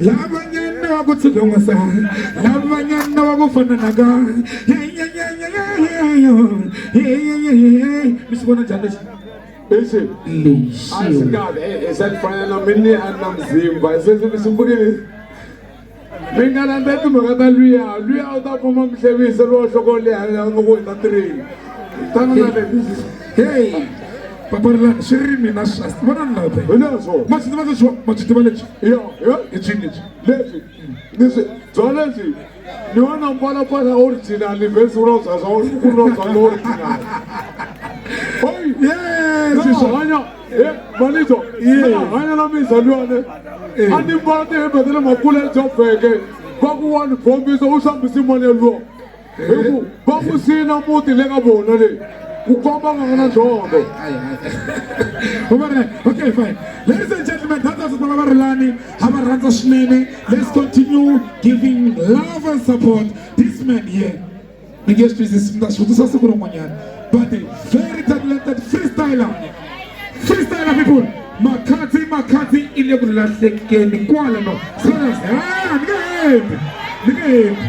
lavanyana wa ku tshikongisa lavanyana wa ku fananaka mi swi vona njhani lexi lexi lexi a swi kahle i swa fanana mi ni a na muzimba se swi swi mbukile mi nga landza timhaka ta luya luya u ta kuma muhlevisi lowo hloko leha nga ku hi ta tirheni tana na le heyi paparila swi ri mina swa vona ni lava hi leswo ma swi tiva leswi ma swi tiva lexi ya ya i cini lexi lexi ni swi bya lexi ni wena mbala kwala original vhesi ro za za uri ku ro za lo original oyi yes swi swa hanya eh malizo Yeah. hanya la mi zalwane Eh. ani mbala ti hebetele makule jo feke ba ku wani bombiso u sambisi mone lo hi ku va ku sina muti le ka vona le ku komba nga na dzondo okay fine ladies and gentlemen that's us bala varilani ha va rhandza swinene let's continue giving love and support this man here mi nge swi twisisi mi ta swi vutisa siku rin'wanyana but a very talented freestyler freestyler people makhadzi makhadzi i le ku lahlekeni kwala no so that's ah ni nge hembi ni nge hembi